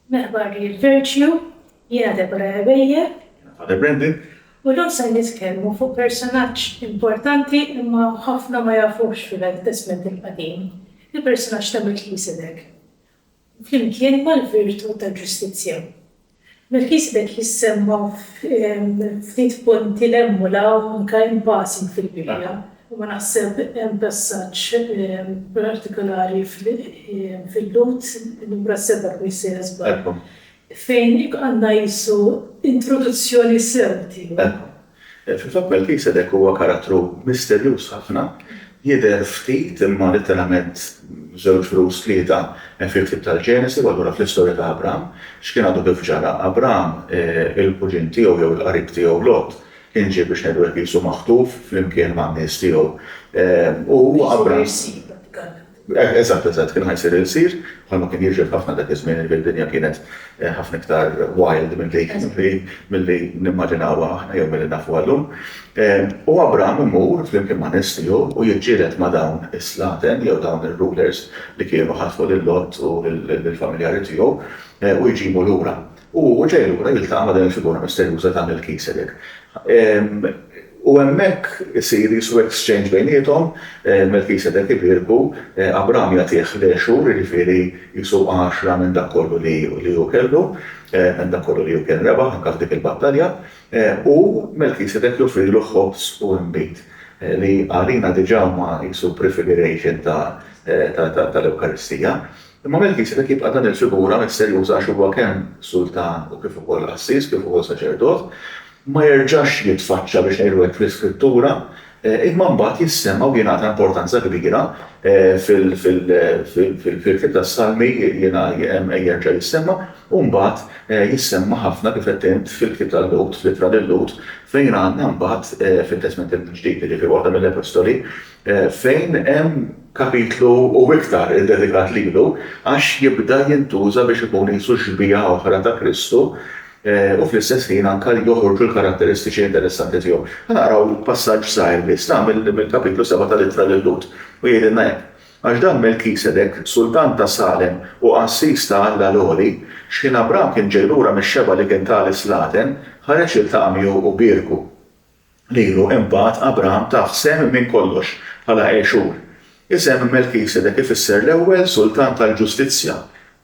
Merħba li l-virtue jiena Deborah Ebejer. Jiena Father Brendan. U llum ser nitkellmu fuq personaġġ importanti imma ħafna ma jafuhx fil-Għelded Testment il-Qadim, il-personaġġ ta' Melkisedek. flimkien mal-virtu tal-ġustizzja. Melkisedek jissemma f'ftit punti 'l hemm u 'l hawn, anke in passing fil-Bibbja, imma naħseb hemm passaġġ partikolari fil-Lhud, Numru 7 kmini se niżball, fejn għandna qisu introduzzjoni sew tiegħu. Fil-fatt Melkisedek huwa karattru misterjuż ħafna, jidher ftit imma litteralment żewġ rus, tlieta, fil-ktieb tal-Ġenesi u allura fl-istorja ta' Abraham. X'kien għadu kif ġara? Abraham, il-kuġin tiegħu jew il-qarib tiegħu Lot kien ġie biex ngħidu hekk qisu maħtuf flimkien man-nies tiegħu u Abraham. Eżatt, eżatt, kien ħa jsir il-qsir, bħalma kien jiġri f'ħafna dak iż-żmien li d-dinja kienet ħafna iktar wild milli nimmaġinawha aħna jew milli nafuha llum. U Abraham imur flimkien ma' nies tiegħu u jiġġieled ma' dawn is-slaten jew dawn ir-rulers li kienu ħatfu lil Lot u lill-familjari tiegħu u jġibu lura. U ġej lura jiltaqa' ma' din il-figura misterjuża ta' Melkisedek. U hemmhekk isir jisu exchange bejniethom, Melkisedek ibierku, Abraham jagħtih l-għexur, jiġifieri jisu għaxra minn dak kollu li hu kellu, minn dak kollu li hu kien rebaħ anke f'dik il-battalja, u Melkisedek joffrilu ħobż u inbid, li għalina diġà huma jisu prefiguration tal-Ewkaristija. Imma Melkisedek jibqa' dan il-figura misterjuża għax huwa kemm sultan u kif ukoll qassis, kif ukoll saċerdot. Ma jerġax jitfaċċa biex ngħidu hekk fl-Iskrittura, imma mbagħad jissemma u jingħata importanza kbira fil-ktieb tas-Salmi jerġa' jissemma u mbagħad jissemma ħafna kif għedt int fil-ktieb ta' Lhud, fl-Ittra lil Lhud, fejn għandna mbagħad fit-Testment il-Ġdid, jiġifieri waħda mill-Epistoli, fejn hemm kapitlu u iktar iddedikat lilu, għax jibda jintuża biex ikun qisu xbieha oħra ta' Kristu u fl-istess ħin anke joħorġu l-karatteristiċi interessanti tiegħu. Ħanaqraw passaġġ żgħir biss, ta' mill-kapitlu sebgħa tal-Ittra lil-Lhud, u jgħidilna hekk, Għax dan Melkisedek, sultan ta' Salem u qassis ta' Alla l-Għoli, xħin Abram kien ġej lura mix-xebgħa li kien ta li slaten, ħareġ jiltaqa' miegħu u bierku. lilu imbagħad Abraham tah sehem minn kollox bħala għexur. Isem Melkisedek ifisser l-ewwel Sultan tal-Ġustizzja,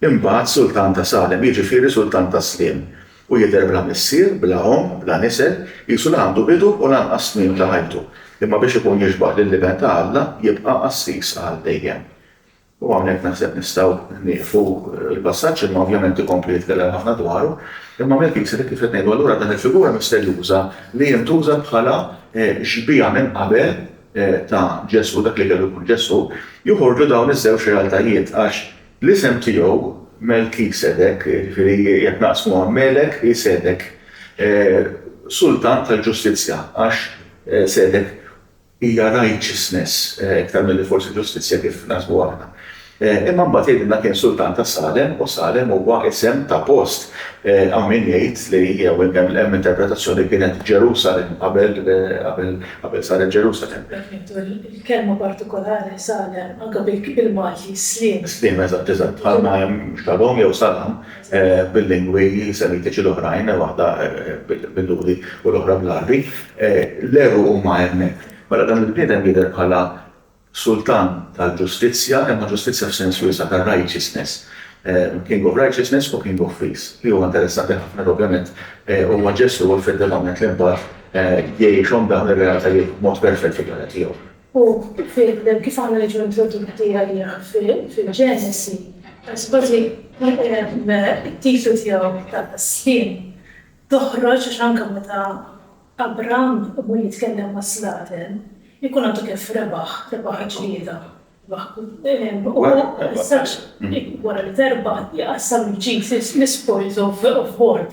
imbagħad Sultan ta' Salem, jiġifieri Sultan tas-Sliem, u jidher bla missier, bla omm, bla nisel, qisu la għandu bidu u lanqas tmiem ta' ħajtu, imma biex ikun jixbah lill-Iben ta' Alla jibqa' qassis għal dejjem. U hawnhekk naħseb nistgħu nieqfu l-passaġġ imma ovvjament ikompli jitkellem ħafna dwaru. Imma Melkisedek kif qed ngħidu allura dan il-figura misterjuża li jintuża bħala xbieha minn qabel ta' Ġesù, dak li kellu jkun Ġesù, joħorġu dawn iż-żewġ realtajiet għax l-isem tiegħu Melkisedek, jiġifieri jekk naqsmuha Melek hi Sedek, Sultan tal-Ġustizzja għax Sedek, Hija righteousness iktar milli forsi ġustizzja kif naħsbu aħna. Imma mbagħad jgħidilna kien sultan ta' Salem u Salem huwa isem ta' post. Hawn min jgħid li jew hemm interpretazzjoni li kienet Ġerusalemm qabel qabel saret Ġerusalemm. Jekk nieħdu l-kelma partikolari Salem anke bil-Malti sliem. Sliem, eżatt, eżatt. Bħalma hemm Shalom jew Salam. bil-lingwi semitiċi l-oħrajn, waħda bil-Lhudi u l-oħra bl-Għarbi, l-għeru huma hemmhekk. Mela dan il-bniedem jidher bħala sultan tal-ġustizzja, imma ġustizzja f'sens wiesa' ta' righteousness, king of righteousness u king of peace, li huwa interessanti ħafna li ovvjament huwa Ġesù effettivament li mbagħad jgħixhom dawn ir-realtajiet b'mod perfett fil-ħajja tiegħu. U kif għandhom jiġu introdotti għalih fil-Ġenesi, għax kważi t-tifel tiegħu ta' sħiħ toħroġ għax anke meta Abraham imur jitkellem ma' slaten, ikun għadu kif rebaħ, rebaħ il-ġlieda. Wara li terbaħ, iqassam il-ġid, l-spoils of war.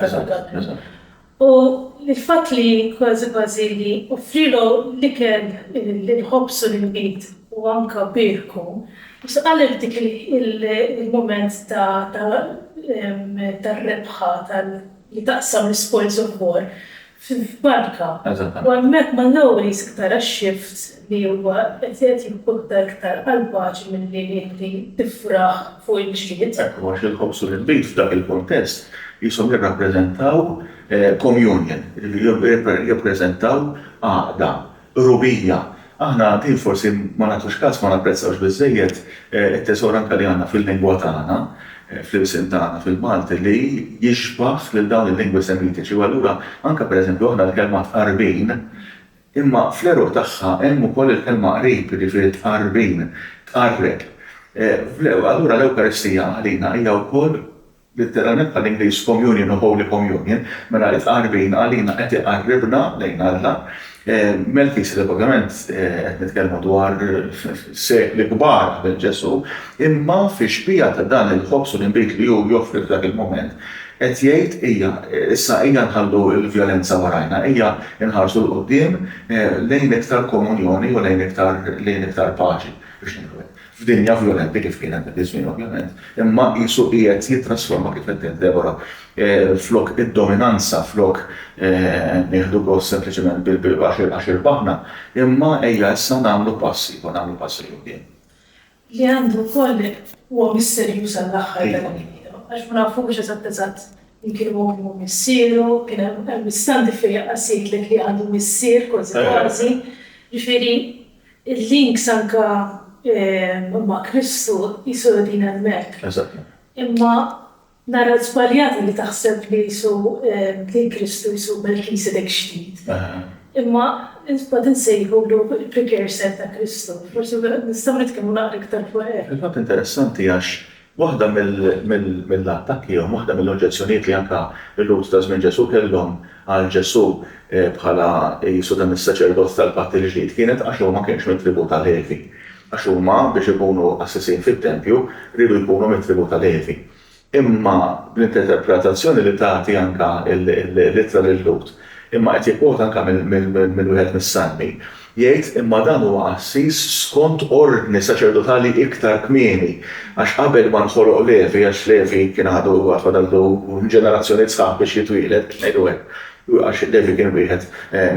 U l-fatt li kważi kważi li offrielu l-ikel, il-ħobż u l-inbid u anke bierku, u saqallu f'dik il-mument ta' tar-rebħa li taqsam l-ispojz il-kbor f'barka. U hemmhekk ma' Lowery's iktar għax-xift li huwa qed jgħid jikkunta iktar għall-paċi milli li inti tifraħ fuq il-ġlied. Ekku għax il-ħobż u l-inbid f'dak il-kuntest qishom jirrappreżentaw communion, jiġifieri jirrappreżentaw għaqda, qrubija. Aħna din forsi ma nagħtux kas, ma napprezzawx biżżejjed it-tesor anke li għandna fil-lingwa tagħna, fl-ilsien tagħna, fil-Malti, li jixbah lil dawn il-lingwi semitiċi u allura anke pereżempju aħna l-kelma tqarbin Imma fl-għeruq tagħha hemm ukoll il-kelma qrib, jiġifieri tqarrbin, tqarreb. Allura l-Ewkaristija għalina hija wkoll, litteralment bħall-Ingliż communion u holy communion, mela t-tqarrbin għalina qed iqarribna lejn Alla. Melkisedek ovvjament qed nitkellmu dwar sekli kbar qabel Ġesù, imma fix-xbieha ta' dan il-ħobż u l-inbid li hu joffri f'dak il-mument, Qed jgħid, ejja, issa ejja nħallu l-vjolenza warajna, ejja nħarsu 'l quddiem lejn iktar komunjoni u lejn iktar lejn iktar paċi, biex ngħidu hekk. F'dinja vjolenti kif kienet dak iż-żmien ovvjament, imma qisu qiegħed jittrasforma kif qed tgħid Debora, flok id-dominanza, flok nieħdu gost sempliċement bil-għax għax irbaħna, imma ejja issa nagħmlu pass ieħor, nagħmlu pass 'il quddiem. li għandu wkoll huwa misterjuż għall-aħħar ta' ħajjitu, għax ma nafux eżatt eżatt min kien hu, min hu missieru, kien hemm stampi fejn jaqqas jgħidlek li għandu missier kważi kważi, ġifieri l-links anke ma' Kristu qisu qegħdin hemmhekk. Imma Nara żbaljata li taħseb li Jisu bdil Kristu Jisu Melkisedek Ġdid. Imma qed insejħulu l-precursor ta' Kristu. Forsi nistgħu nitkellmu naqra iktar fuq hekk. Fil-fatt interessanti għax waħda mill-attakki jew waħda mill-oġġezzjonijiet li anke l-Lhud ta' żmien Ġesù kellhom għal Ġesù bħala Jisu dan is-Saċerdot tal-Patt il-Ġdid kienet għax huwa ma kienx mit-tribù ta' Levi. Għax huma, biex ikunu qassisin fit-tempju, riedu jkunu mit-tribù ta' Levi. Imma bl-interpretazzjoni li tagħti anke l-Ittra lil-Lhud, imma qed jikkwota anke minn wieħed mis-Salmi, jgħid, Imma dan huwa qassis skont ordni saċerdotali iktar kmieni, għax qabel ma nħoloq Levi, għax Levi kien għadu għad fadallu ġenerazzjonijiet sħaħ biex jitwieled, biex ngħidu hekk, għax Levi kien wieħed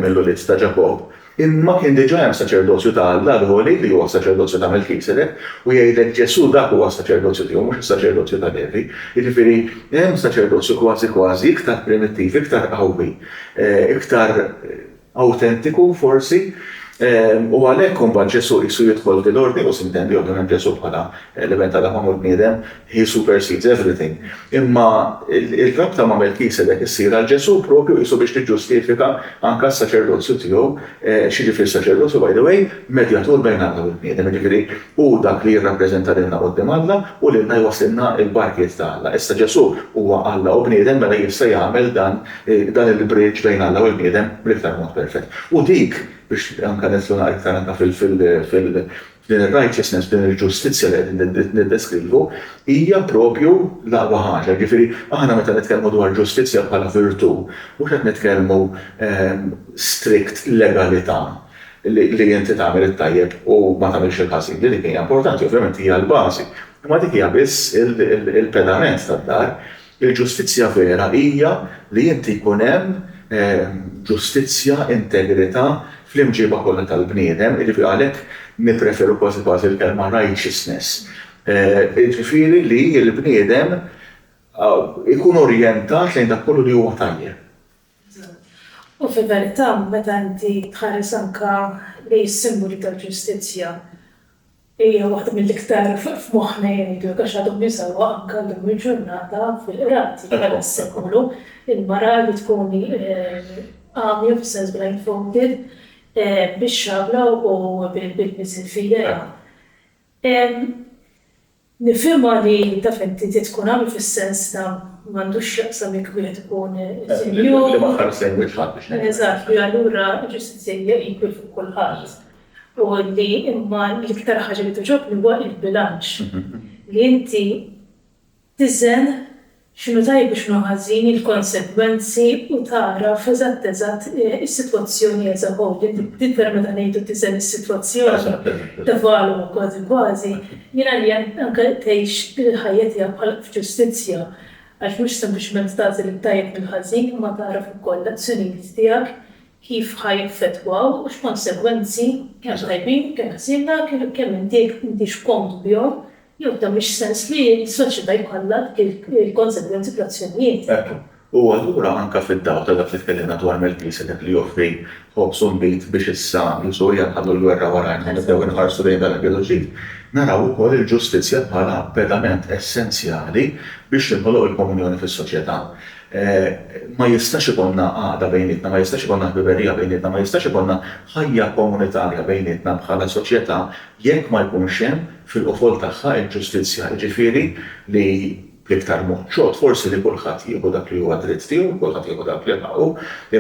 mill-ulied ta' Ġakobb, Imma kien diġà hemm saċerdozju ta' Alla l-Għoli li huwa s-saċerdozju ta' Melkisedek, u jgħidlek Ġesù dak huwa s-saċerdozju tiegħu mhux is-saċerdozju ta' Levi. Jiġifieri hemm saċerdozju kważi kważi iktar primittiv, iktar qawwi, iktar awtentiku forsi, u għalhekk imbagħad Ġesù qisu jidħol f'dil-ordni, u s'intendi ovvjament Ġesù bħala l-Iben t'Alla magħmul bniedem, He supersedes everything. Imma r-rabta ma' Melkisedek issir għal Ġesù proprju qisu biex tiġġustifika anke s-saċerdozju tiegħu. X'jiġifieri s-saċerdozju, by the way? Medjatur bejn Alla u l-bniedem. Jiġifieri hu dak li jirrappreżenta lilna quddiem Alla u lilna jwasslilna l-barkiet ta' Alla. Issa Ġesù huwa Alla u bniedem mela jista' jagħmel dan il-bridge bejn Alla u l-bniedem bl-iktar mod perfett. U dik, biex anke nidħlu naqra iktar anke Din ir-righteousness, din il-ġustizzja li qegħdin niddeskrivu hija proprju l-aqwa ħaġa. Jiġifieri, aħna meta nitkellmu dwar ġustizzja bħala virtù, mhux qed nitkellmu strict legalità, li inti tagħmel it-tajjeb u ma tagħmilx il-ħażin, li dik hija importanti, ovvjament hija l-bażi, imma dik hija biss il-pedament tad-dar. Il-ġustizzja vera hija li inti jkun hemm ġustizzja, integrità fl-imġiba kollha tal-bniedem, jiġifieri għalhekk nippreferu kważi kważi l-kelma righteousness, jiġifieri li l-bniedem ikun orjentat lejn dak kollu li huwa tajjeb. U fil-verità meta inti tħares anke lejn is-simboli tal-ġustizzja, Hija waħda mill-iktar f'moħħna jgħidu hekk għax għadhom jużawha anke llum il-ġurnata fil-qrati tal-sekolu. Il-mara li tkun għamja fis-sens blindfolded bix-xabla u bil-miżiel f'idejha. Nifhimha li taf inti trid tkun għami fis-sens ta' m'għandux x'jaqsam jekk wieħed ikun sinjur. Li ma ħares lejn wiċċ ħadd biex ngħidlek. Eżatt, li allura ġustizzja hija equal fuq kulħadd. U li imma l-iktar ħaġa li togħġobni huwa l-bilanċ. Li inti tiżen x'inhu tajjeb u x'inhu ħażin, il-konsegwenzi u tagħraf eżatt eżatt is-sitwazzjoni as a whole. Din vera meta ngħidu tiżen is-sitwazzjoni, tevalwa kważi kważi, jien għalija anke tgħix il-ħajja tiegħek bħal f'ġustizzja. Għax mhux sempliċement tagħżel it-tajjeb mill-ħażin imma tagħraf ukoll l-azzjonijiet tiegħek kif ħa jaffettwaw u x'konsegwenzi, kemm tajbin, kemm ħżiena, kemm intih intix komodu bihom, jew f'dan mhix sens li s-soċjetà jkollha dik il-konsegwenzi fl-azzjonijiet. Hekk hu allura anke fid-dawl ta' dak li tkellimna dwar Melkisedek li joffri ħobż u nbid biex issa jus u hija nħallu l-gwerra warajna u nibdew inħarsu lejn dan il-bidu l-ġdid, naraw ukoll il-ġustizzja bħala pedament essenzjali biex tinħoloq il-komunjoni fis-soċjetà. Ma jistax ikollna għaqda bejnietna, ma jistax ikollna ħbiberija bejnietna, ma jistax ikollna ħajja komunitarja bejnietna bħala soċjetà jekk ma jkunx hemm fil-qofol tagħha l-ġustizzja, jiġifieri li bl-iktar mod ċod forsi li kulħadd jieħu dak li huwa dritt tiegħu, kulħadd jieħu dak li ħaqqu,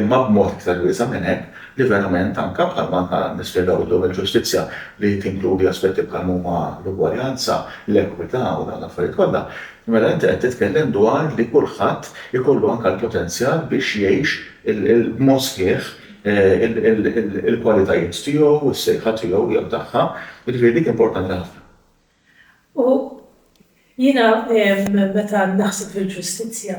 imma b'mod iktar wiesa' minn hekk li verament anke bħalma ħa nispjegaw illum il-ġustizzja li tinkludi aspetti bħal m'huma l-ugwaljanza, l-ekwità u dawn l-affarijiet kollha, Mela inti qed titkellem dwar li kulħadd ikollu anke l-potenzjal biex jgħix b'mod sħiħ il-kwalitajiet tiegħu, is-sejħa tiegħu jew tagħha, jiġifieri dik importanti ħafna. U jiena meta naħseb fil-ġustizzja,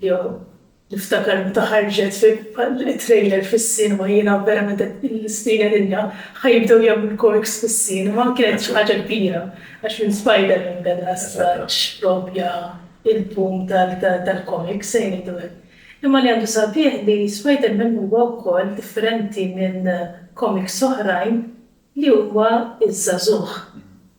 Jew, niftakar meta ħarġet it-trailer fis-cinema, jiena verament qed nistieden lilna, ħa jibdew jagħmlu l-korks fis-cinema, kienet xi ħaġa kbira, għax minn Spiderman beda straġ proprja il-boom tal-comics, se ngħidu hekk. Imma li għandu sabiħ li Spiderman huwa wkoll differenti minn comics oħrajn li huwa iż-żagħżugħ.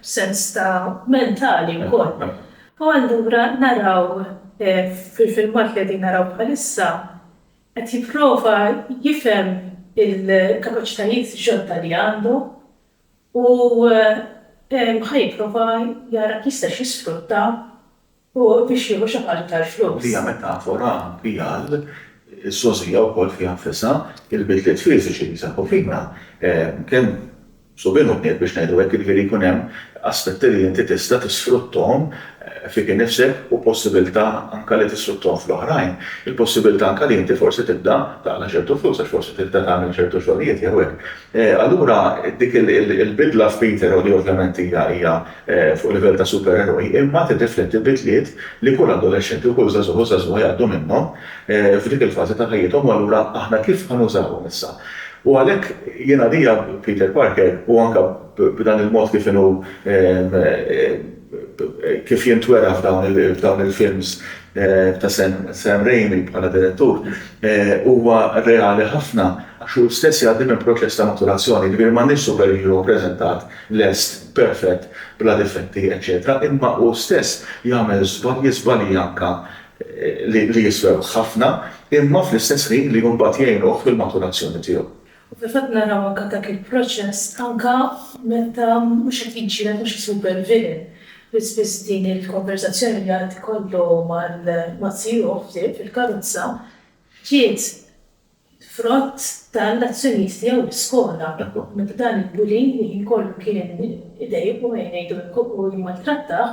b'sens ta' mentali wkoll. U allura naraw fil-filmat li qegħdin naraw bħalissa qed jipprova jifhem il-kapaċitajiet ġodda li għandu u ħa jipprova jara kif jistax jisfrutta Hu biex jieħu xi ħaġa tal-flus. Li hija metafora anki għal sogħżija wkoll fiha nfisha. Il-bidliet fiżiċi li jseħħu fina kemm subien u bniet biex ngħidu hekk, jiġifieri jkun hemm aspetti li inti tista' tisfruttahom fik innifsek u possibilità anke li tisfruttahom fl-oħrajn. Il-possibilità anke li inti forsi tibda taqla' ċertu flus għax forsi tibda tagħmel ċertu xogħlijiet jew hekk. Allura dik il-bidla f'Peter, li ovvjament hija hija fuq livell ta' supereroj, imma tirrifletti bidliet li kull adolexxenti u kull żagħżugħ u żagħżugħa jgħaddu minnhom f'dik il-fażi ta' ħajjithom u allura aħna kif ħa nużawhom issa. U għalhekk jien għalija Peter Parker u anke b'dan il-mod kif inhu kif jintwera f'dawn il-films ta' Sam Raimi bħala direttur, huwa reali ħafna għax hu stess jgħaddi minn proċess ta' maturazzjoni, jiġifieri m'għandniex superhero ppreżentat lest, perfett, bla difetti, eċċetera, imma hu stess jagħmel żbalji, żbalji anke li jiswewh ħafna, imma fl-istess ħin li mbagħad jgħinuh fil-maturazzjoni tiegħu. U fil-fatt naraw anke dak il-proċess anke meta mhux qed jiġġieled ma' xi super villain li spiss din il-konverżazzjoni li għad ikollu ma' sieħbu ħbieb fil-karozza ġiet frott tal-azzjonijiet tiegħu l-iskola meta dan il-bully li ħin kollu kien idejjqu ejja ngħidu hekk u jmaltrattah,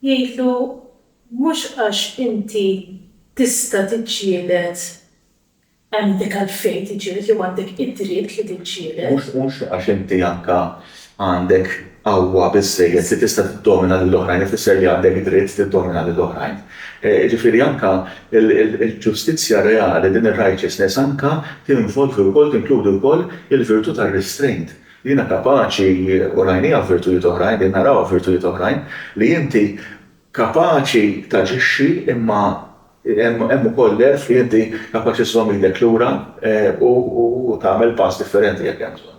Jgħidlu, Mhux għax inti tista' tiġġieled għandek għalfejn tiġġieled jew għandek id-dritt li tiġġieled. Mhux għax inti anke għandek qawwa biżżejjed li tista' tiddomina lil oħrajn ifisser li għandek id-dritt tiddomina lil oħrajn. Jiġifieri anke l-ġustizzja reali, din ir-righteousness, anke tinvolvi wkoll, tinkludi wkoll il-virtù tar-restraint. Jiena kapaċi, u rajniha f'virtujiet oħrajn, qegħdin narawha f'virtujiet oħrajn, li inti kapaċi taġixxi imma hemm ukoll l-għerf li inti kapaċi żżomm idek lura u tagħmel pass differenti jekk hemm bżonn.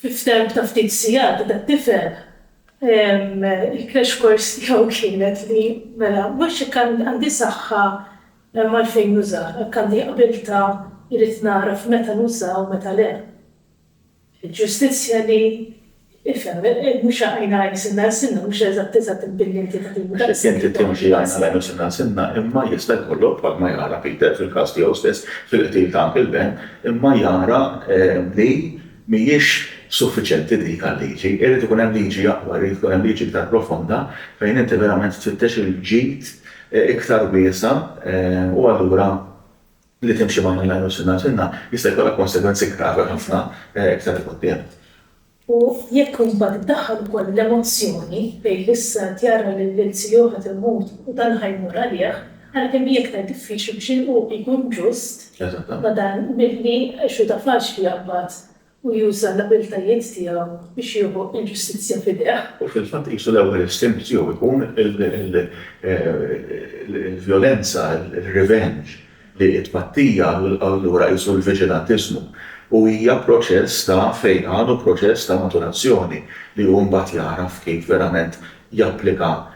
Fi ftemp ta' ftit sigħat dat-tifel, il-crash course tiegħu kienet li mela mhux jekk għandi saħħa hemm għalfejn nuża, jekk għandi qbiltà irrid nagħraf meta nuża u meta le. Il-ġustizzja li, ifhem, mhux għajna għajn sinna għal sinna, mhux eżatt eżatt imbillinti ta' din id-daqs. Mhux jekk inti timxi għajn għal għajn u sinna għal sinna, imma jista' jkollok bħalma jara Peter fil-każ tiegħu stess fil-qtil ta' Uncle Ben, imma jara li Mhijiex suffiċjenti dik għal-liġi, irid ikun hemm liġi aqwa, irid tkun hemm liġi iktar profonda fejn inti verament tfittex il-ġid iktar wiesa' u allura li timxi ma' Mennaj u Sinna Sinna jista' jkollha konsegwenzi gravi ħafna iktar 'il quddiem. U jekk imbagħad iddaħħal ukoll l-emozzjoni fejn l-issa qed jara lil ilsieħu qed imut u dan ħa jmur għalih, Għalkemm hi iktar diffiċli biex il-qugħ ikun ġust, ma dan milli Xuda faċli jaqbad u juża l-abiltajiet tiegħu biex jieħu l-ġustizzja f'idejh. U fil-fatt qisu l-ewwel istintu tiegħu jkun il-vjolenza, ir-revenge, li t-tpattija u allura qisu l-viġilantiżmu. U hija proċess ta' fejqan u proċess ta' maturazzjoni li hu mbagħad jagħraf kif verament japplika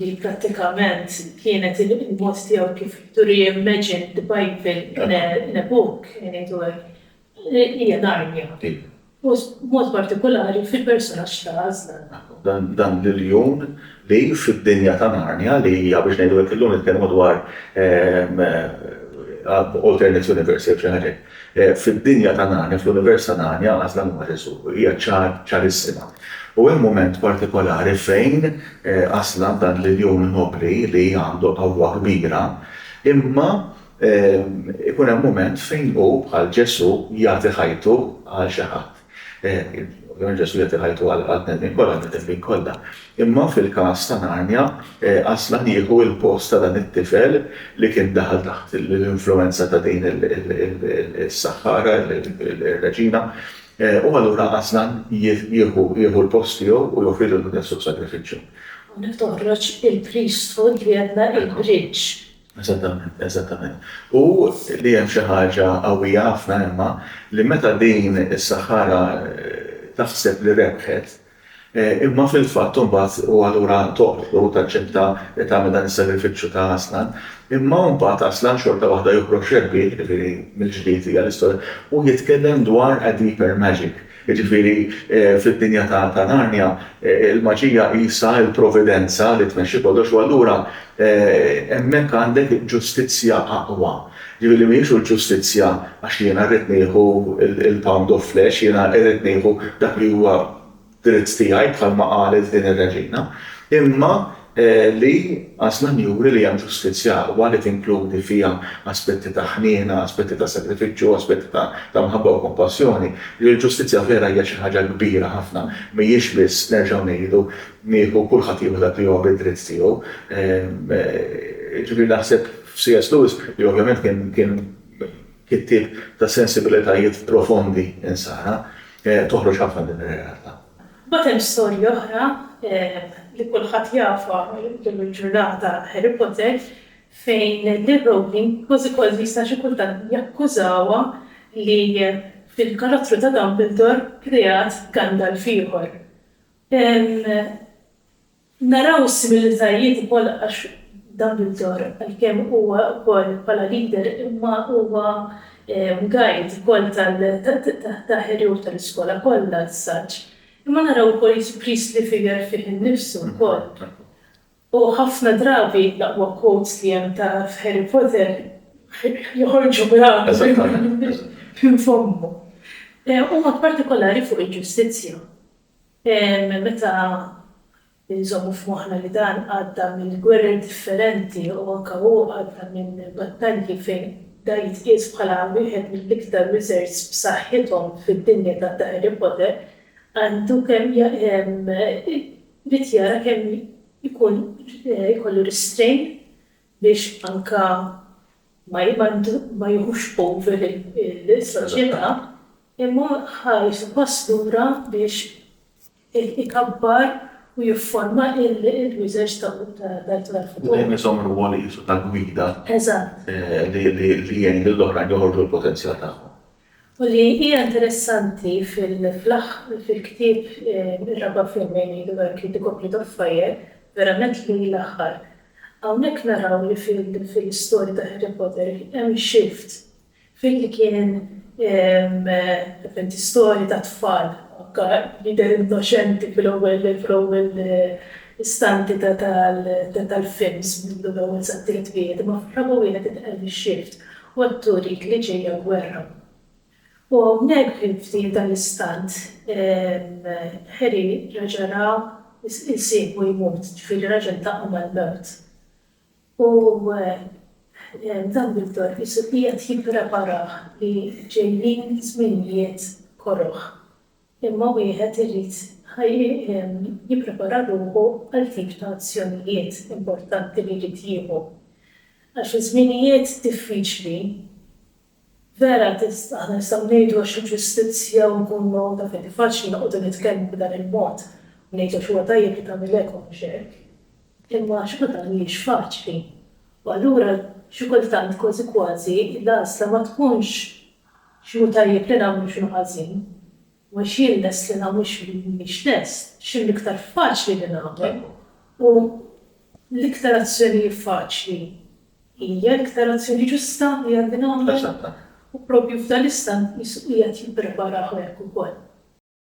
li prattikament kienet il-mod tiegħu kif to reimagine the Bible in a book, ngħidu hekk, hija Narnia. U b'mod partikulari fil-persunaġġ ta' Aslan. Dan l-iljun li fid-dinja ta' Narnia, li hija biex ngħidu hekk illum nitkellmu dwar alternate universe jew xi ħaġa hekk, Fid-dinja ta' Narnia, fl-univers ta' Narnia, għax dan huwa Ġesù, hija ċar, ċarissima. U hemm mument partikolari fejn Aslan, dan l-iljun nobbli li għandu qawwa kbira, imma ikun hemm mument fejn hu, bħal Ġesù, jagħti ħajtu għal xi ħadd. L-Unjoni Ġesuwita tagħti ħajtu għall-bnedmin kollha, għan-nedmin kollha. Imma fil-każ ta' Narnia, Aslan jieħu l-post ta' dan it-tifel li kien daħal taħt l-influwenza ta' din is-saħħara, ir-reġina, u allura Aslan jieħu l-post tiegħu u joffri lil Ħdejn Suq sagrifiċċju. Hawnhekk toħroġ il-priesthood li għedna il-bridge Eżattament, eżattament. U li hemm xi ħaġa qawwija ħafna imma li meta din is-saħħara taħseb li rebħet, imma fil-fatt imbagħad u allura toqtlu u taċċetta li tagħmel dan is-sagrifiċċju ta' Aslan, imma imbagħad Aslan xorta waħda joħroġ rebbieħ, jiġifieri mill-ġdid hija l-istorja, u jitkellem dwar a deeper magic. Jiġifieri, fid-dinja ta' Narnia, il-maġija qisha l-providenza li tmexxi kollox u allura hemmhekk għandek ġustizzja aqwa. Jiġifieri li mhijiex u l-ġustizzja għax jiena rrid nieħu l-pound of flesh, jiena irrid nieħu dak li huwa dritt tiegħi bħalma qalet din ir-reġina, imma li għażlan juri li hemm ġustizzja aqwa li tinkludi fiha aspetti ta' ħniena, aspetti ta' sagrifiċċju, aspetti ta' ta' mħabba u kompassjoni, li l-ġustizzja vera hija xi ħaġa kbira ħafna, mhijiex biss, nerġgħu ngħidu, nieħu kulħadd jieħu dak li huwa bid-dritt tiegħu. Jiġifieri naħseb f'C.S. Lewis, li ovvjament kien kien kittieb ta' sensibilitajiet profondi insara, toħroġ ħafna din ir-realtà. Mbagħad hemm storja oħra li kulħadd jafha llum il-ġurnata, Harry Potter, fejn lil Rowling kważi kważi jista' xi kultant jakkużawha li fil-karattru ta' Dumbledore kreat Gandalf ieħor. Naraw s-similitajiet ukoll għax Dumbledore għalkemm huwa wkoll bħala leader imma huwa guide ukoll ta' Harry u tal-iskola kollha as such. Imma naraw ukoll jiġi priestly figure fih innifsu wkoll. U ħafna drabi l-aqwa quotes li hemm ta' f'Harry Potter joħorġu minn fommu. Huma partikolari fuq il-ġustizzja. Meta nżommu f'moħħna li dan għadda minn gwerer differenti u anke hu għadda minn battalji fejn da jitqies bħala wieħed mill-iktar wizards b'saħħithom fid-dinja ta' The Harry Potter, għandu kemm irid jara kemm ikun ikollu restrain biex anka ma jiħux over il-soċjetà, imma ħa jieħdu pass lura biex ikabbar u jifforma l-users tal-platform. Dejjem iżomm rwol qiesu ta' gwida li jgħin lill-oħrajn joħorġu l-potenzjal tagħhom. U li hija interessanti fil-ktieb ir-raba' film bejn Ido Erki u The Goblet of Fire, verament li l-aħħar. Hawnhekk naraw li fil-istorja ta' Harry Potter hemm shift fil-li kien istorja ta' tfal anke jidher innoċenti fl-ewwel istanti tal-films mill-ewwel sat-tielet wieħed imma fir-raba' wieħed inqal ix-shift Ħodtu dik li ġejja gwerra. U hawnhekk fi ftit dal-istant Harry reġa' ra jsieħbu jmut, ġifieri reġa' ltaqa' mal-mewt. U Dumbledore qisu qiegħed jippreparah li ġejjin żminijiet koroh. imma wieħed irid jipprepara ruħu għal tip ta' azzjonijiet importanti li jrid jieħu. Għax iż-żminijiet diffiċli, vera aħna nistgħu ngħidu għax il-ġustizzja u nkunu ta' fidi faċli noqogħdu nitkellmu b'dan il-mod u ngħidu għax huwa tajjeb li tagħmel hekk u mhux hekk, imma xorta mhijiex faċli. U allura xi kultant kważi kważi l-għażla ma tkunx X'inhu tajjeb li nagħmlu u x'inhu ħażin, u għax jien lest li nagħmel u x'm'iniex lest, x'inhu l-iktar faċli li nagħmel, u l-iktar azzjoni faċli hija l-iktar azzjoni ġusta li għandi nagħmel. U propju f'dan l-istant qisu qiegħed jippreparaha hekk ukoll.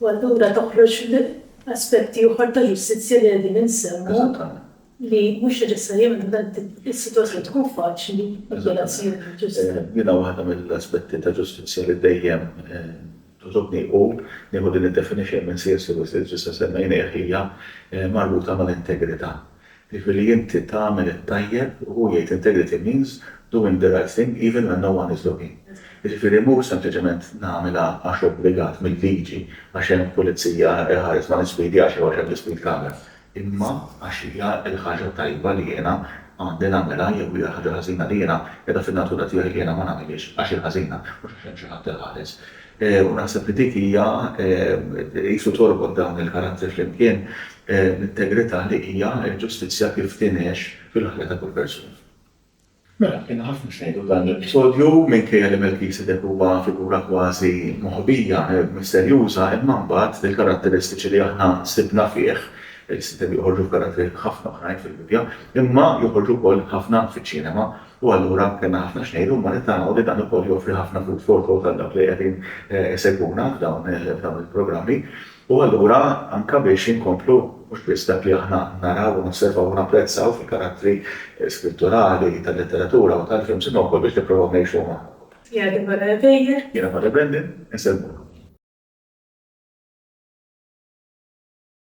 U allura toħroġ aspetti oħra ta' ġustizzja li qegħdin insemmu li mhux neċessarjament is-sitwazzjoni tkun faċli. Din hija waħda mill-aspetti ta' ġustizzja li dejjem togħġobni u, nieħu din id-definition minn C.S. Lewis li diġà semmejnieh, hija marbuta mal-integrità. Jiġifieri li inti tagħmel it-tajjeb u hu jgħid integrity means doing the right thing even when no one is looking. Jiġifieri mhux sempliċement nagħmilha għax obbligat mil-liġi, għax hemm pulizija iħares ma' l-ispidi għax iħoss hemm l-ispeed camera. imma għax hija l-ħaġa t-tajba li jiena għandi nagħmilha jew hija l-ħaġa l-ħażina li jiena, qiegħda fin-natura tiegħi li jiena ma nagħmilhiex għax hi ħażina, mhux għax hemm xi ħadd iħares. U naħseb li dik hija, qisu torbot dawn il-karattri flimkien, l-integrità li hija l-ġustizzja kif tingħex fil-ħajja ta' kull persuna. Mela, kellna ħafna x'ngħidu f'dan l-episodju. Minkejja li Melkisedek huwa figura kważi moħbija, misterjuża, imma mbagħad il-karatteristiċi li aħna sibna fih, li sitet joħorġu f'karattri ħafna oħrajn fil-Bibbja, imma joħorġu wkoll ħafna fiċ-ċinema. U allura kellna ħafna x'ngħidu, imma nittamaw li dan ukoll joffri ħafna food for thought għal dawk li qegħdin isegwuna f'dawn il-programmi. U allura anke biex inkomplu mhux biss dak li aħna naraw u nosservaw u napprezzaw fil-karattri Skritturali tal-letteratura u tal-films imma wkoll biex nipprovaw ngħixuhom aħna wkoll. Hija Deborah Reveille. Jiena Padre Brendan, insellmulkom.